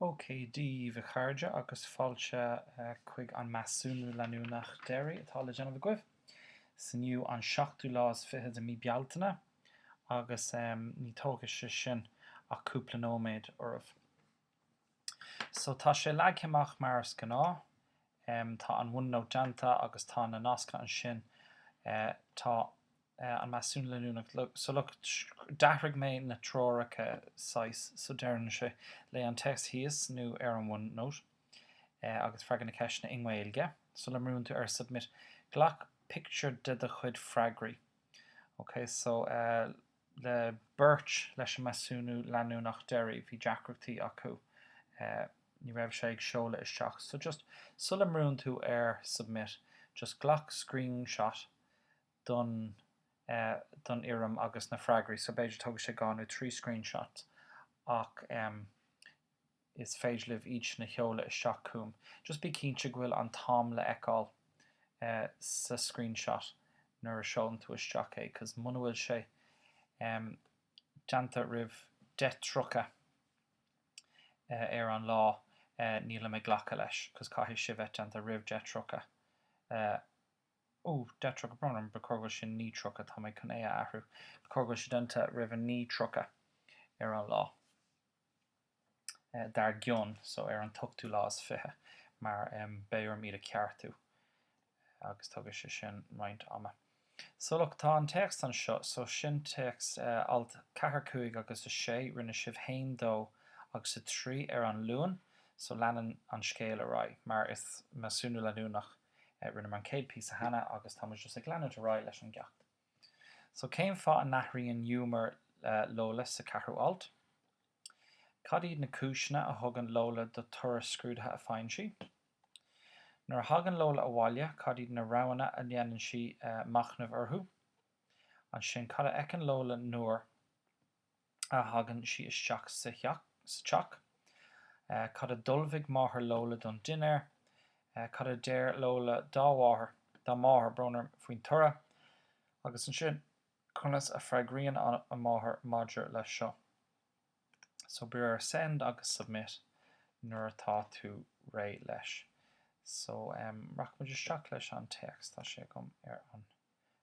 OK Dia daoibh a chairde agus fáilte chuig an measúnú leanúnach deiridh atá le déanamh agaibh. Is inniu an seachtú lá is fiche de mí Bealtaine agus ní tógfaidh sé sin ach cúpla nóiméad oraibh. So tá sé leagtha amach mar is gnáth, em tá an OneNote déanta agus tá na nascanna ansin, eh tá eh an measúnú leanúnach so look d'athraigh mé na treoracha saghas so deireann sé léigh an téacs thíos nó ar an OneNote eh agus freagair na ceisteanna i nGaeilge, sula mbrúnn tú ar submit, glac pictiúr de do chuid freagraí. Okay so eh. le beirt leis an measúnú leanúnach deiridh, bhí deacrachtaí acu, ní raibh sé ag seoladh isteach. So just sula mbrúnn tú ar submit, just glac screenshot don, don fhoirm agus na freagraí. So b'fhéidir tógfaidh sé dhá nó trí screenshots ach, em, Is féidir libh iad sin a sheoladh isteach chugam. Just bí cinnte go bhfuil an t-am le fheiceáil sa screenshot nuair a seolann tú isteach é cos muna bhfuil sé déanta roimh 10:30 ar an lá nílim ag glacadh leis cos caithfidh sé bheith déanta roimh 10:30 Ó 10:30 brón orm ba chóir go bhfuil sé 9:30 tá mé chun é a athrú. Ba chóir go bhfuil sé déanta roimh 9:30 ar an lá. dar gcionn, so ar an t-ochtú lá is fiche, mar beidh orm iad a cheartú agus tógfaidh sé sin roinnt ama. So look, tá an téacs anseo, so sin téacs alt 4, 5 agus 6, rinne sibh 1, 2 agus 3 ar an Luan, so leanann an scéal ar aghaidh mar is measúnú leanúnach, rinneamar an chéad píosa cheana agus tá muid just ag leanúint ar aghaidh leis an gceacht. So cén fáth a n-athraíonn hiúmar Lola sa ceathrú alt? Cad iad na cúiseanna a thugann Lola do toradh scrúduithe a faigheann sí? Nuair a thagann Lola abhaile, cad iad na roghanna a dhéanann sí machnamh orthu? Ansin, cad a fheiceann Lola nuair. a thagann sí isteach sa teach. Cad a d'ullmhaigh máthair Lola don dinnéar? Cad a deir Lola dá mháthair, dá máthair, brón orm, faoin toradh? Agus ansin, conas a freagraíonn a máthair maidir leis seo? So brúigh ar send agus submit nuair atá tú réidh leis. So, rachaidh muid isteach leis an téacs, tá sé agam ar an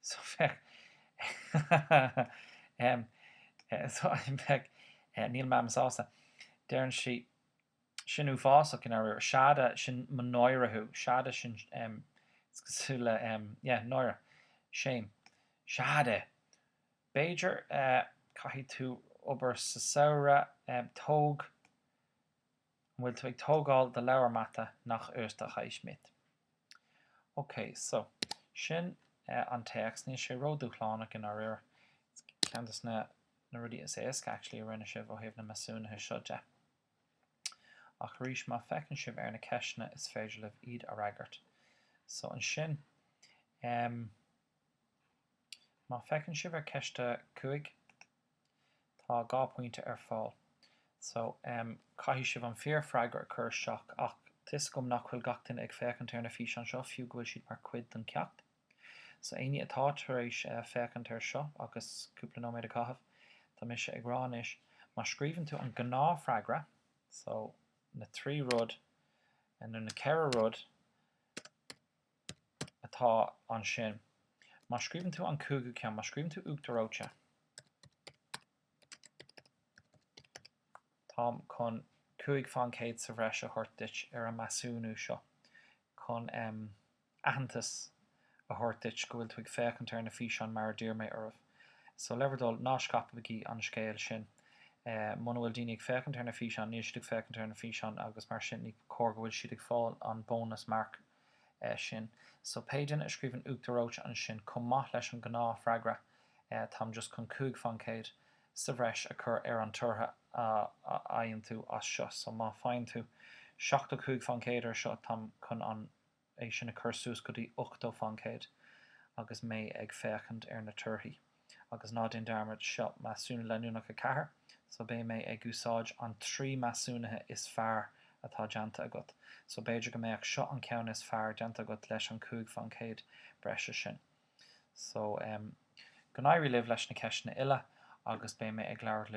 so bheadh em so bheadh eh níl Mam sásta. Deireann sí, Sin uafásach, in áit seada, sin mo náire thú, seada, sin em is cosúil le em yeah náire, shame, seada! B'fhéidir eh caithfidh tú obair sa samhradh, em tóg An bhfuil tú ag tógáil do leabhar mata? Nó uachtar reoite? Ok, so, sin e an téacs. Níl sé ró-dúshlánach i ndáiríre. Ceann de na na rudaí is éasca actually a rinne sibh ó thaobh na measúnuithe seo de. Ach arís, má féachann sibh ar na ceisteanna is féidir libh iad a fhreagairt. So ansin, em má féachann sibh ar ceist a cúig, Tá dhá pointe ar fáil so em caithfidh sibh an fíor freagra a cur isteach ach tá a fhios agam nach bhfuil gach duine ag féachaint ar na físeáin seo fiú go bhfuil siad mar cuid don ceacht so éinne atá tar éis eh féachaint ar seo agus cúpla nóiméad a chaitheamh tá mise ag rá anois má scríobhann tú an gnáth freagra so na trí rud eh nó na ceithre rud atá ansin. Má scríobhann tú an cúigiú ceann, má scríobhann tú Uachtar Reoite, táim chun cúig faoin gcéad sa bhreis a thabhairt duit ar an measúnú seo, chun aitheantas a thabhairt duit go bhfuil tú ag féachaint ar na físeáin mar a d'iarr mé oraibh. So, le bhur dtoil, ná scaipigí an scéal sin. Muna bhfuil daoine ag féachaint ar na físeáin, níl siad ag féachaint ar na físeáin agus mar sin ní cóir go bhfuil siad ag fáil an bonus mark. sin. So pé duine a scríobhann Uachtar Reoite ansin chomh maith leis an gnáth freagra Táim just chun 5 faoin 100 sa bhreis a chur ar an toradh a fhaigheann tú as seo. So má faigheann tú 75 faoin 100 ar seo táim chun an é sin a chur suas go dtí 80 faoin 100 agus mé ag féachaint ar na torthaí. agus ná déan dearmad, seo Measúnú Leanúnach 4, so beidh mé ag úsáid an 3 measúnaithe is fearr atá déanta agat, so b'fhéidir go mbeadh seo an ceann is fearr déanta agat leis an 5 faoin chéad breise sin. So, go n-éirí libh leis na ceisteanna uile agus beidh mé ag labhairt libh.